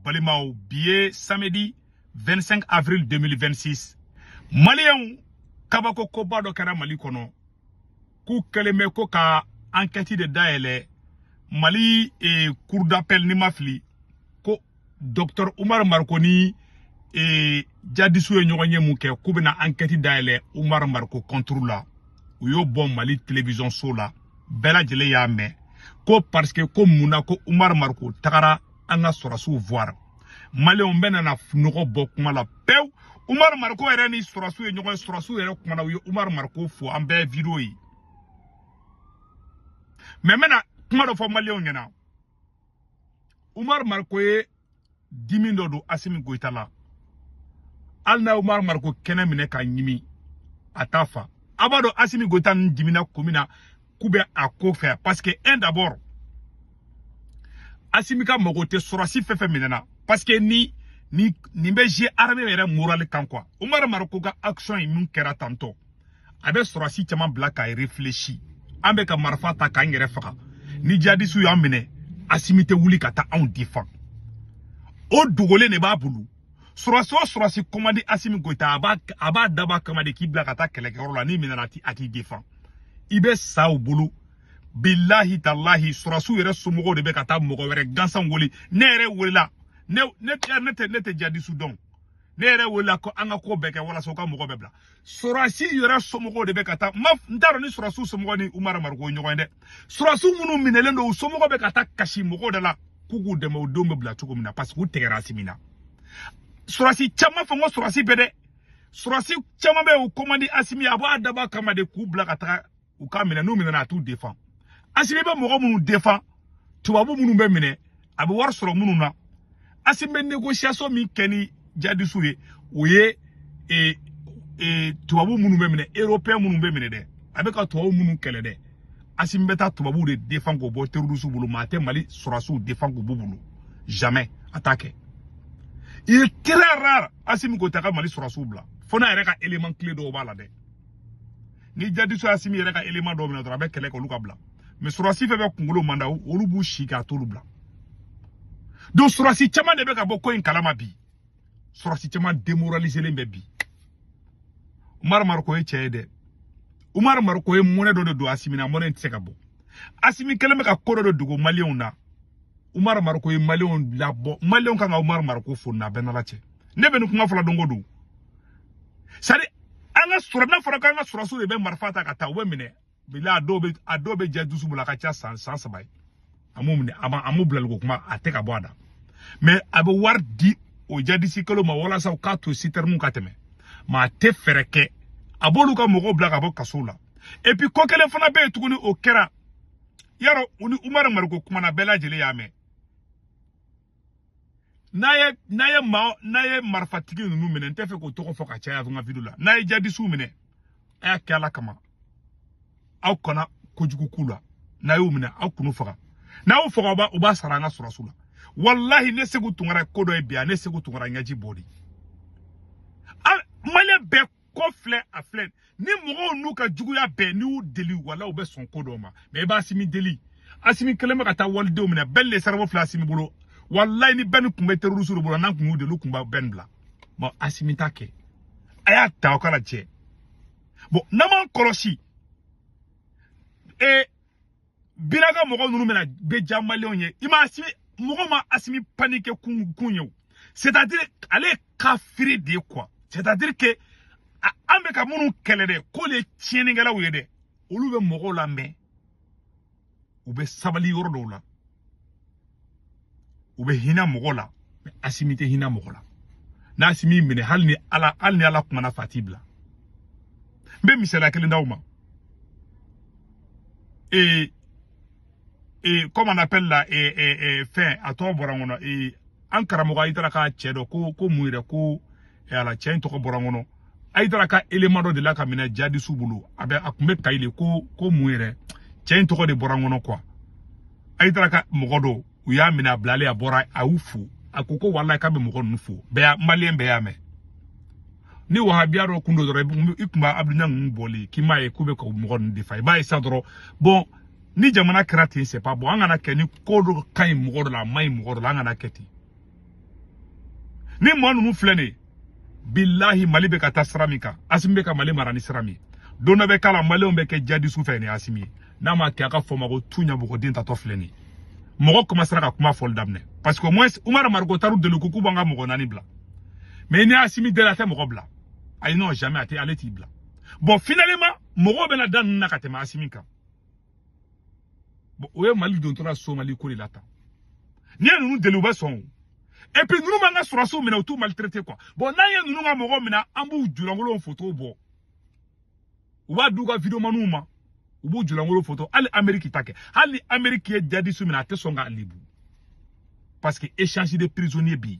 balimaw bi ye samedi 25 avril 2026 maliyɛnw kabako koba dɔ kɛra mali kɔnɔ k'u kɛlen bɛ ko ka ankɛti de dayɛlɛ mali eh, cour d'appel ni n ma fili ko docteur umar mariko ni eh, jadisiw ye ɲɔgɔnye min kɛ k'u bɛna ankɛti dayɛlɛ umar mariko kɔnturu la u y'o bɔ mali television so la bɛɛ lajɛlen y'a mɛn ko parce que ko mun na ko umaru mariko tagara an ka sɔrɔsiw voir maliyɛnw bɛɛ nana nɔgɔ bɔ kuma la pewu umaru mariko yɛrɛ ni sɔrɔsiw ye ɲɔgɔn ye sɔrɔsiw yɛrɛ kumana u ye umaru mariko fo an bɛɛ video ye mais n bɛna kuma dɔ fɔ maliyɛnw ɲɛna Umar Mariko ye dimi dɔ don Asimi Goyita la hali n'a Umar Mariko kɛnɛ minɛ ka ɲimi a t'a fa a b'a dɔn Asimi Goyita ninnu dimina ko min na k'u bɛ a kɔfɛ parce que un d'abord Asimi ka mago tɛ sɔrɔsi fɛn fɛn minɛ na parce que ni nin nin bɛ jouer armée yɛrɛ moral kan quoi Umar Mariko ka action in min kɛra tantôt a bɛ sɔrɔsi caman bila k'a réfléchi an bɛ ka marifa ta k'an yɛrɛ faga ni jadisiw y'an minɛ asimi tɛ wuli ka taa anw defan o dogolen de b'a bolo sɔrɔsi o sɔrɔsi ko man di asimi goyita a b'a a b'a dabɔ a kama de k'i bila ka taa kɛlɛkɛyɔrɔ la n'i minɛna a t'i defan i bɛ sa u bolo bilahi talahi sɔrɔsiw yɛrɛ somɔgɔw de bɛ ka taa mɔgɔ wɛrɛ gansan wele ne yɛrɛ welela ne ne ne tɛ ne tɛ jadisiw dɔn ne yɛrɛ welela ko an ka ko bɛɛ kɛ walasa u ka mɔgɔ bɛɛ bila surasi yɛrɛ somɔgɔw de bɛ ka taa mais n t'a dɔn ni surasiw somɔgɔ ni umar mariko ɲɔgɔn ye dɛ surasiw minnu minɛlen don u somɔgɔ bɛ ka taa kasi mɔgɔw de la k'u k'u dɛmɛ u denw bɛ bila cogo min na parce que u tɛgɛra asimi na surasi caman fo n ko surasi bɛɛ dɛ surasi caman bɛ yen u ko man di asimi a b'a dabɔ a kama de k'u bila ka taga u ka minɛ n'u minɛna a t'u defan asimi bɛ mɔgɔ minnu defan tubabu minnu bɛ minɛ a bɛ wari sɔrɔ minnu na asimi bɛ négociation min kɛ ni jadisiw ye o ye e, e, tubabu minnu bɛ minɛ européen minnu bɛ minɛ dɛ a bɛ ka tubabu minnu kɛlɛ dɛ asimi bɛ taa tubabuw de defan k'o bɔ terrorisiw bolo mais a tɛ mali sɔrɔsiw defan k'u b'u bolo jamais a t'a kɛ il est très rare asimi goyita ka mali sɔrɔsiw bila fo n'a yɛrɛ ka élément clé dɔw b'a la dɛ ni jadisiw asimi yɛrɛ ka élément dɔw minɛ dɔrɔn a bɛ kɛlɛ kɛ olu ka bila mais surasi fɛn fɛn kunkolo man d'a olu b'u sigi k'a t'olu bila donc surasi caman de bɛ ka bɔ ko in kalama bi surasi caman demoraliselen bɛ bi umar mariko ye cɛ ye dɛ umar mariko ye mɔnɛ dɔ de don asimi na mɔnɛ in tɛ se ka bɔ asimi kɛlen bɛ ka ko dɔ de dogo maliyɛnw na umar mariko ye maliyɛnw labɔ maliyɛnw kan ka umar mariko fo n'a bɛɛ n'ala cɛ ne bɛ nin kuma fɔla don o don sari an ka sɔrɔ n'a fɔra k'an ka sɔrɔsiw de bɛ marifa ta ka taa u bɛ minɛ bila a dɔw bɛ a dɔw bɛ jadisiw bolo a ka ca san san saba ye an b'u minɛ a ma an b'u bilaliko kuma a tɛ ka bɔ a da mɛ a bɛ wari di o jadisi kolon ma walasa u k'a to sitɛriniw ka tɛmɛ mɛ a tɛ fɛɛrɛ kɛ a b'olu ka mɔgɔw bila ka bɔ kasow la epi ko kelen fana bɛ yen tuguni o kɛra yarɔ u ni umaru mariko kumana bɛɛ lajɛlen y'a mɛn n'a ye n'a ye maa n'a ye marifatigi ninnu minɛ n tɛ fɛ k'o tɔgɔ fɔ ka caya n ka video la n'a ye jadisiw minɛ a y'a kɛ ala kama aw kana kojugu k'u la n'a y'u minɛ aw kan'u faga n'a y'u faga u b'a sara an ka sɔrɔsiw la walahi ne seku tunkara ko dɔ ye bi a ne seku tunkara ɲɛji bɔ dɛ maliyɛn bɛɛ ko filɛ a filɛ ni mɔgɔ ninnu ka juguya bɛɛ n'i y'u deli wala u bɛ sɔn ko dɔw ma mɛ i b'asimi deli asimi kelen bɛ ka taa walidenw minɛ ben le cerveau filɛ asimi bolo walayi ni ben kun bɛ terorisi de bolo n'an kun y'u deli u kun bɛ ben bila bɔn asimi t'a kɛ a y'a ta o k'a lajɛ bɔn n'an m'an kɔlɔsi ee biraka mɔgɔ ninnu bɛna bɛ diya maliyɛnw ye i ma asimi mɔgɔ ma asimi panike kun ye o c'est à dire ale ye kafiri de ye quoi c'est à dire que an bɛ ka minnu kɛlɛ dɛ k'olu ye tiɲɛnikɛlaw ye dɛ olu bɛ mɔgɔw lamɛn u bɛ sabali yɔrɔ dɔw la u bɛ hinɛ mɔgɔ la asimi tɛ hinɛ mɔgɔ la n'asimi minɛ hali ni ala hali ni ala kuman'a fɛ a t'i bila n bɛ misaliya kelen d'aw ma ee ee comme on appelle la ee ee ee fɛn a tɔgɔ bɔra n kɔnɔ ee an karamɔgɔ ayidara ka cɛ dɔ ko ko mun yɛrɛ ko ala cɛ in tɔgɔ bɔra n kɔnɔ ayidara ka elema dɔ delila ka minɛ jadisiw bolo a bɛ a tun bɛ kayi de ko ko mun yɛrɛ cɛ in tɔgɔ de bɔra n kɔnɔ quoi ayidara ka mɔgɔ dɔw u y'a minɛ a bilalen a bɔra a y'u fo a ko ko walayi k'a bɛ mɔgɔ ninnu fo bɛɛ y'a maliyɛn bɛɛ y'a mɛn ni wahabiya dɔ kun don dɔrɔn i kun b'a abudu ɲang ninnu bɔli k'i m'a ye k'u bɛ ka mɔgɔ ninnu defa i b'a ye sa dɔrɔn bɔn ni jamana kɛra ten c'est pas bon an kana kɛ ni ko dɔ ka ɲi mɔgɔ dɔ la a man ɲi mɔgɔ dɔ la an kana kɛ ten ni maa ninnu filɛ nin ye bilahi mali bɛ ka taa sira min kan asimi bɛ ka mali mara ni sira min ye don dɔ bɛ k'a la maliyɛnw bɛ kɛ jadisiw fɛ ni asimi ye n'a ma kɛ a ka fɔ ma ko tu ɲabɔgɔden taatɔ filɛ nin ye mɔgɔ kɔmansera ka kuma fɔli daminɛ parce que au moins umar mariko taar'u deli ko k'u b'an ka mɔgɔ naani bila mais ni asimi deli a tɛ mɔgɔ bila ayi non jamais a tɛ ale t'i bila bon finalement mɔgɔw bɛna da ninnu na ka tɛmɛ asimi kan bon o ye mali don tɔɔrɔ la somali ko de la tan n'i ye ninnu deli u bɛ sɔn o et puis ninnu man'an ka sɔrɔdasiw minɛ u t'u maltraité quoi bon n'an ye ninnu ka mɔgɔ minɛ an b'u julankolow fotow bɔ u b'a d'u ka videomaniw ma u b'u julankolo foto hali ameriki t'a kɛ hali ni ameriki ye djihadiste minɛ a tɛ sɔn k'a lebu parce que échange de prisonnier bɛ yen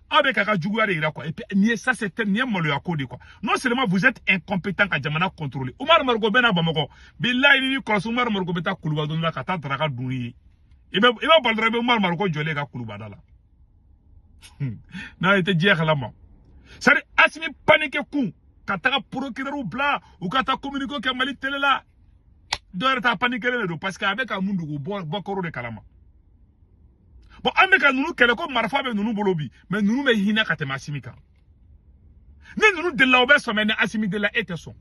aw bɛ k'a ka juguya de yira quoi et puis nin ye ça c'est nin ye maloya ko de quoi non seulement vous êtes incompétent ka jamana contrôler Umar Mariko bɛ na Bamakɔ bilayi n'i m'i kɔlɔsi Umar Mariko bɛ taa kuluba don dɔ la ka taa daraka dun yen i bɛ i bɛ bali dɔrɔn i bɛ Umar Mariko jɔlen kan kuluba da la n'a ye tɛ diɲɛ kalama c'est à dire Asimi paniqué kun ka taga procureurw bila u ka taa communiqué kɛ Mali télé la dɔ wɛrɛ tɛ a paniquélen don parce que a bɛ ka mun dugu bɔ b'o kɔrɔ de kalama bon an bɛ ka ninnu kɛlɛ ko marifa bɛ ninnu bolo bi mais ninnu bɛ hinɛ ka tɛmɛ asimi kan ni ninnu delila u bɛ sɔn mais ni asimi delila e tɛ sɔn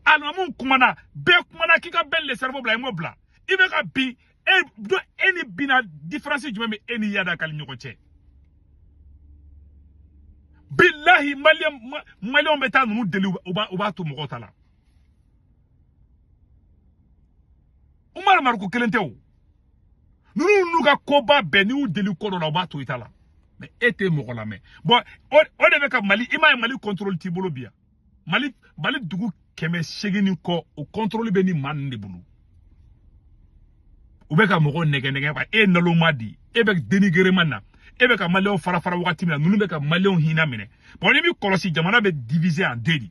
alimamiw kumana bɛɛ kumana k'i ka ben le cerveau bila i m'o bila i bɛ ka bin e dun e ni bina différence jumɛn bɛ e ni iyad ag ghali ɲɔgɔn cɛ bilahi maliyɛnw bɛ taa ninnu deli u b'a to mɔgɔw ta la umaru mariko kelen tɛ o ninnu n'u ka koba bɛɛ n'i y'u deli ko dɔ la u b'a to i ta la mais e tɛ mɔgɔ lamɛn bon o de bɛ ka mali i m'a ye mali contrôle t'i bolo bi yan mali mali dugu kɛmɛ seegin ni kɔ o contrôle bɛ nin maa ninnu de bolo u bɛ ka mɔgɔw nɛgɛn nɛgɛn quoi e nalonma den e bɛ dénigrement na e bɛ ka maliyɛnw fara fara wagati min na ninnu bɛ ka maliyɛnw hinɛ minɛ bon n'i m'i kɔlɔsi jamana bɛ divisé en deux dɛ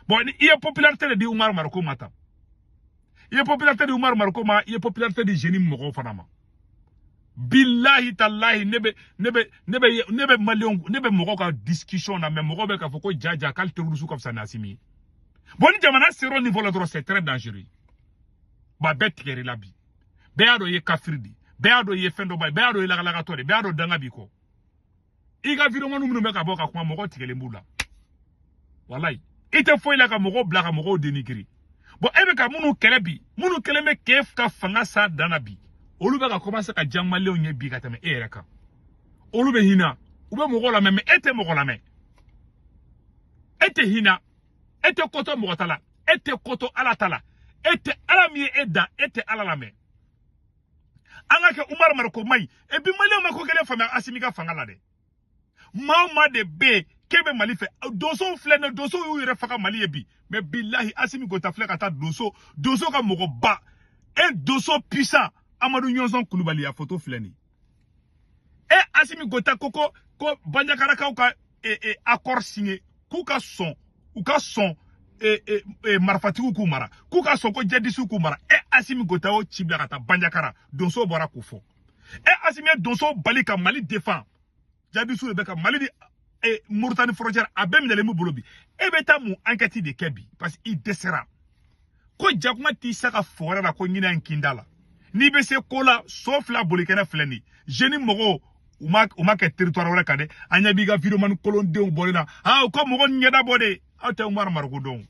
bon i ye popularité de di umaru mariko ma tan i ye popularité di umaru mariko ma i ye popularité di JNIM mɔgɔw fana ma bilahi talahi ne bɛ ne bɛ ne bɛ ne bɛ maliyɛnw ne bɛ mɔgɔw ka discussion na mais mɔgɔw bɛ k'a fɔ ko jaa jaa k'ali terroristew ka fisa ni asimi ye bon ni jamana sera o niveau la dɔrɔn c'est très dangereux bon a bɛɛ tigɛr'i la bi bɛɛ y'a dɔn i ye kafiri de ye bɛɛ y'a dɔn i ye fɛndɔnbali ye bɛɛ y'a dɔn i ye lagalagatɔ de ye bɛɛ y'a dɔn danga b'i kɔ i ka videomaniw minnu bɛ ka bɔ ka kuma mɔgɔ tigɛlen b'u la walayi i tɛ foyi la ka mɔgɔw bila ka mɔgɔw dénigré bon e bɛ ka minnu kɛlɛ bi minnu kɛlen bɛ k'e ka fanga s'a dan na bi olu bɛ ka commencer ka diya maliyɛnw ye bi ka tɛmɛ e yɛrɛ kan olu bɛ hinɛ u bɛ mɔgɔw lamɛn mais e tɛ mɔgɔ lamɛn e tɛ hinɛ e tɛ ko to mɔgɔ ta la e tɛ ko to ala ta la e tɛ ala min ye e dan e tɛ ala lamɛn an k'a kɛ umaru mariko man ɲi e bi maliyɛnw ma ko kelen faamuya asimi ka fanga la dɛ maa o maa de bɛ yen k'e bɛ mali fɛ donsow filɛ nin donsow y'u yɛrɛ faga mali ye bi mais bilahi asimi goita filɛ ka taa donso donso ka mɔgɔba un donso puissant amadu ɲɔnsɔn kulubali a foto filɛ nin ye asimi goita ko ko ko banjagarakaw ka e, e, accord signé k'u ka sɔn u ka sɔn e, e, e, marifatigiw k'u mara k'u ka sɔn ko jadisiw k'u mara e asimi goyita y'o ci bila ka taa banjakara donsow bɔra k'o fɔ e asimi ye donsow bali ka mali defan jadisiw de bɛ ka mali di e, moritani frontière a bɛɛ minɛlen b'u bolo bi e bɛ taa mun enquête de kɛ bi parce que i dɛsɛra ko jakuma t'i sa ka fɔgɔrɛ la ko ɲinɛ n kin da la n'i bɛ se ko la so fila bolikɛnɛ filɛ nin jnim mɔgɔw u ma u ma kɛ territoire wɛrɛ kan dɛ an ɲɛ b'i ka videomani kolondenw bɔli la aa ko mɔgɔ ɲɛda bɔ de aw tɛ umaru mariko dɔn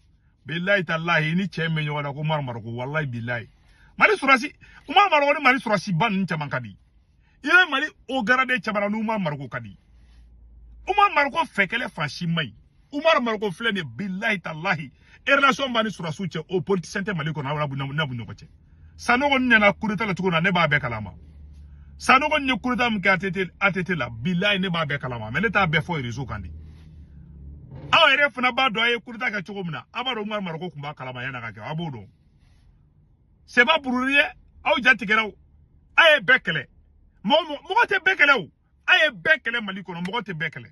bilayi talahi ni cɛ min bɛ ɲɔgɔn na ko umaru mariko walayi bilayi mali sɔrɔsi umaru mariko ni mali sɔrɔsiba ninnu caman ka di i bɛ mali haut gradé camanba ni umaru mariko ka di umaru mariko fɛ kɛlɛ fan si man ɲi umaru mariko filɛ nin bilahi talahi relation b'a ni sɔrɔsiw cɛ o politicien tɛ mali kɔnɔ a b'u ɲɔgɔn cɛ sanogo ɲɛna coup d'état la cogo na ne b'a bɛɛ kalama sanogo ye coup d'état min kɛ att la bilahi ne b'a bɛɛ kalama mais ne t'a bɛɛ fɔ réseau kan dɛ aw yɛrɛ fana b'a dɔn a ye coup d'état kɛ cogo min na aw b'a dɔn umaru mariko tun b'a kalama yan'a ka kɛ aw b'o dɔn c'est pas pour rien aw ja tigɛra o a ye bɛɛ kɛlɛ mɔgɔ tɛ bɛɛ kɛlɛ o a ye bɛɛ kɛlɛ mali kɔnɔ mɔgɔ tɛ bɛɛ kɛlɛ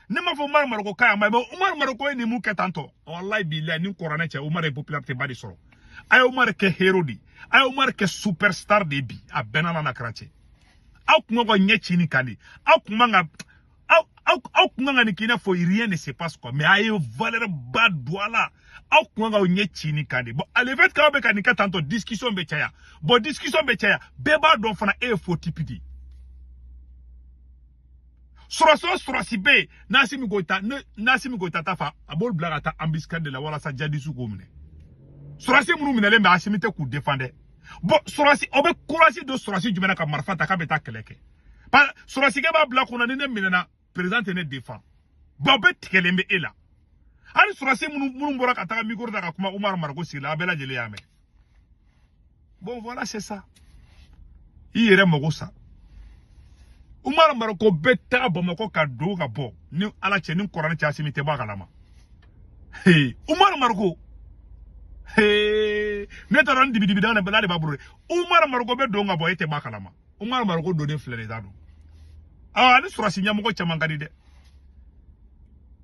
ne m'a fɔ umaru mariko ka yan ma mais umaru mariko ye nin mun kɛ tan tɔ walayi bilayi ni kuranɛ cɛ umaru ye popularité ba de sɔrɔ a ye umaru kɛ héros di a ye umaru kɛ superstar di bi a bɛ n n'ala n'a kira cɛ aw kun man kan k'aw ɲɛ ci nin kan de aw kun man ka aw aw aw kun kan ka nin k'i n'a fɔ rien ne se passe quoi mais a ye valeur ba don a la aw kun man kan k'aw ɲɛ ci nin kan de bon le fait k'aw bɛ ka nin kɛ tantɔ discussion bɛ caya bon discussion bɛ caya bɛɛ b'a dɔn fana e ye faux type de ye sɔrɔsi o sɔrɔsi bɛ yen n'asimi goyita ne n'asimi goyita t'a fɛ a b'olu bila ka taa embuscade de la walasa jadisiw k'o minɛ sɔrɔsi minnu minɛlen bɛ asimi tɛ k'u defan dɛ bon sɔrɔsi aw bɛ courage don sɔrɔsi jumɛn na ka marifa ta k'a bɛ taa kɛlɛ kɛ ba sɔrɔsikɛ b'a bila kunna ni ne minɛna président tɛ ne defan bawo bɛɛ tigɛlen bɛ e la hali sɔrɔsi minnu minnu bɔra ka taga mikoro ta ka kuma umaru mariko sigi la a bɛɛ lajɛlen y'a mɛn bon voilà c'est ça i yɛrɛ mago sa umaru mariko bɛ taga bamakɔ ka don ka bɔ ni ala cɛ ni kuranɛ cɛ asimi tɛ bɔ a kalama umaru mariko ne taara ni dibidibidan de b'a bolo umaru mariko bɛ don ka bɔ e tɛ bɔ a kalama umaru mariko donnen filɛ de t'a dɔn aa a ni sɔrɔsi ɲɛmɔgɔ caman ka di dɛ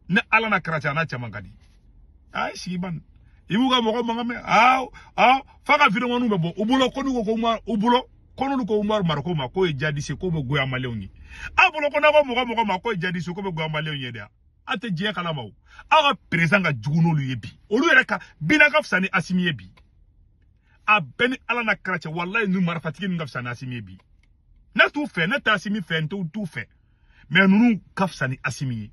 ne ala n'a kira cɛ n'a caman ka di a ye sigi ban i b'u ka mɔgɔ mankan mɛn aa aa f'a ka videomaniw bɛ bɔ u bolo ko n'u ko ko umar u bolo ko n'olu ko umaru mariko ma k'o ye jadisi ye k'o bɛ goya maliyɛnw ye a bolo ko n'aw ko mɔgɔ mɔgɔ ma k'o ye jadisi ye k'o bɛ goya maliyɛnw ye dɛ aw tɛ diɲɛ kalama o aw ka président ka jugu n'olu ye bi olu yɛrɛ ka bina ka fisa ni asimi ye bi a bɛ n ni ala n'a kira cɛ walayi ninnu marifatigi ninnu ka fisa ni asimi ye bi ne t'u fɛ ne tɛ asimi fɛ n t'u fɛ mais ninnu ka fisa ni asimi ye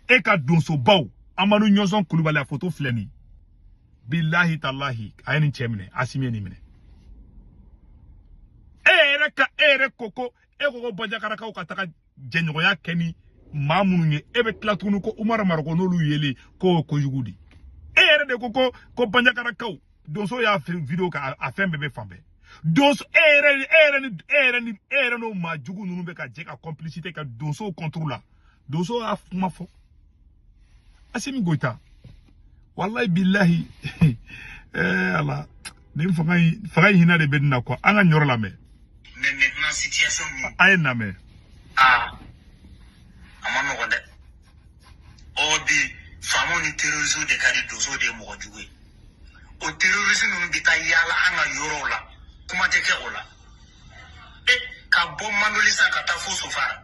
e ka donsobaw amadu ɲɔnsɔn kulubali a foto filɛ nin bilahi talahi a ye nin cɛ minɛ asimi ye nin minɛ e yɛrɛ ko ko e ko ko banjagarakaw ka taga jɛɲɔgɔnya kɛ ni maa minnu ye e bɛ tila tuguni ko umaru mariko n'olu yeli k'o kojugu di e yɛrɛ de ko ko ko banjagarakaw donso y'a video kɛ a fɛn bɛɛ bɛ fan bɛɛ donso e yɛrɛ n'o maa jugu ninnu bɛ ka jɛ ka complicité kɛ donsow contre la donso y'a kuma fɔ asimi goyita walayi bilahi eh, ala nin fanga in hinɛ de bɛ n na quoi an ka nin yɔrɔ lamɛn Mais maintenant, situation min, a ye nin lamɛn ah, a man nɔgɔ dɛ. O bi, faamaw ni terroristes de ka di donso de ye mɔgɔ jugu ye. O terroristes ninnu bɛ taa yaala an ka yɔrɔw la, kuma tɛ kɛ o la. E, ka bɔ Mandoli sa ka taa fo Sofara,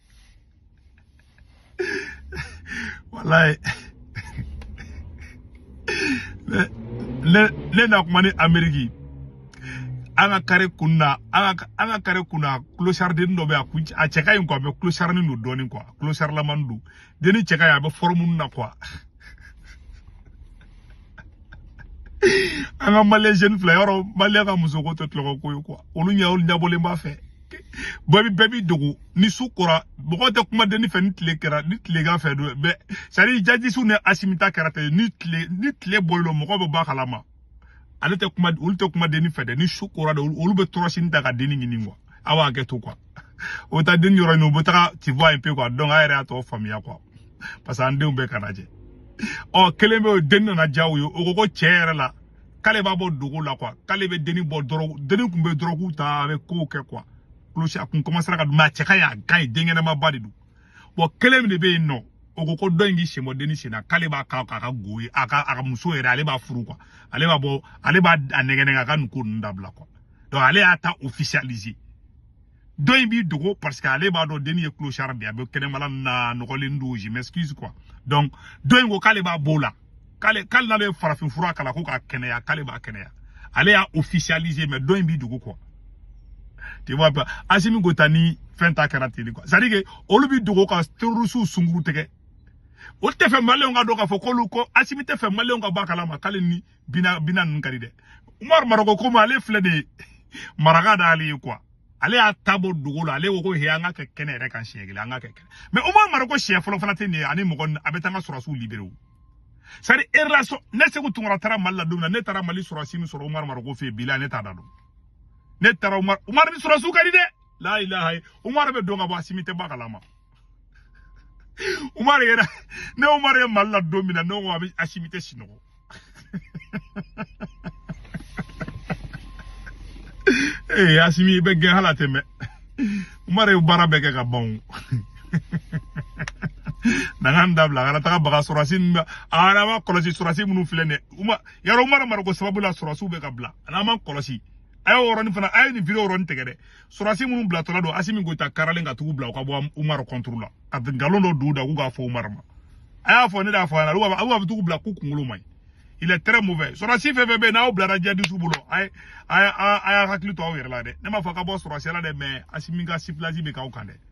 walayi ne na kuma ni ameriki an ka kare kun na an ka an ka kare kun na kulosariden dɔ bɛ a kun a cɛ ka ɲi kuwa mɛ kulosarinin don dɔɔnin kuwa kulosarilaman don denni cɛ ka ɲi a bɛ fɔrɔmu na kuwa an ka maliyɛn jeune fila yɛrɛ maliyɛn ka musoko tɛ tulonko ye kuwa olu ɲɛ olu ɲɛbɔlen b'a fɛ bɛɛ b'i bɛɛ b'i dogo ni su kora mɔgɔ tɛ kuma deni fɛ ni tile kɛra ni tilegan fɛ don bɛɛ c'est à dire jihadisiw ni asimi ta kɛra ten ni tile ni tile bɔlen don mɔgɔ bɛ bɔ a kalama ale tɛ kuma olu tɛ kuma deni fɛ dɛ ni su kora de olu bɛ tɔrɔsini ta ka deni ɲini kuwa aw b'a kɛ to kuwa o bɛ taa deni yɔrɔ ɲini u bɛ taga tu vois un peu quoi dɔnku a yɛrɛ y'a tɔ faamuya kuwa parce que an denw bɛɛ kana jɛ ɔ kelen bɛ yen o deni nana diya u ye o ko ko cɛ yɛrɛ la k'ale b'a bɔ dogo la kuwa k'ale bɛ denni bɔ dɔrɔgu denni tun bɛ dɔrɔgu ta a bɛ kow kɛ kuwa kolosi a kun kɔmansera ka dun mɛ a cɛ ka ɲi a ka ɲi den kɛnɛmanba de don bɔn kelen min de bɛ yen nɔ o ko ko dɔ in k'i sen bɔ denni sen na k'ale b'a kɛ a ka go ye a ka a ka muso yɛrɛ ale b'a furu kuwa ale b'a bɔ ale b'a a nɛgɛn nɛgɛn a ka nin ko ninnu dabila kuwa donc ale y'a ta officialiser dɔ in b'i dogo parce que ale b'a dɔn denni ye clochard de ye a bɛ kɛnɛma la a nɔgɔlen don je m'excuse quoi donc dɔ in ko k'ale b'a b'o la k'ale k'ale n'ale ye farafin fura k'a la ko k'a kɛnɛya k'ale b'a kɛnɛya ale y'a officialiser mais dɔ in b'i dogo quoi tu vois pas Asimi Goyita ni fɛn ta kɛra ten quoi c'est à dire que olu b'i dogo ka terroristes sunguru tigɛ olu t'a fɛ maliyɛnw k'a dɔn k'a fɔ k'olu ko Asimi t'a fɛ maliyɛnw ka bɔ a kalama k'ale ni bina bina ninnu ka di dɛ umaru mariko ko ma ale filɛ de ye maraka d'ale ye quoi ale y'a ta bɔ dogo la ale ko ko he an ka kɛ kɛnɛ yɛrɛ kan siɲɛ kelen an ka kɛ kɛnɛ mais umaru mariko siɲɛ fɔlɔ fana tɛ nin ye ani mɔgɔ a bɛ taa an ka sɔrɔsiw libérer o sari erasɔ ne seku tunkara taara mali la don min na ne taara mali sɔrɔsi min sɔrɔ umaru mariko fɛ yen bila ne t'a da dɔn ne taara umaru umaru ni sɔrɔsiw ka di dɛ la ilaha umaru bɛ don ka bɔ asimi tɛ bɔ a kalama Umar yɛrɛ ne Umar ye Mali la don min na ne ko a bɛ Asimi tɛ sinɔgɔ ee Asimi i bɛ gɛn hali a tɛ mɛn Umar ye baara bɛɛ kɛ ka ban o dangan dabila a kana taga baga sɔrɔsi a n'an ma kɔlɔsi sɔrɔsi minnu filɛ nin yɔrɔ Umar Mariko sababu la sɔrɔsiw bɛ ka bila a n'an ma kɔlɔsi a y'o yɔrɔnin fana a ye nin video yɔrɔnin tigɛ dɛ surasi minnu bilatɔla don asimi goyita karalen ka tugu bila u ka bɔ umaru contrôle la ka nkalon dɔ don u da k'u k'a fɔ umaru ma a y'a fɔ ne de y'a fɔ a ɲɛna aw b'a tugu bila k'u kunkolo man ɲi il est très mauvais surasi fɛn fɛn bɛ yen n'aw bilara jadisiw bolo a ye a y'a hakili to aw yɛrɛ la dɛ ne m'a fɔ ka bɔ surasiya la dɛ mais asimi ka siplasi bɛ k'aw kan dɛ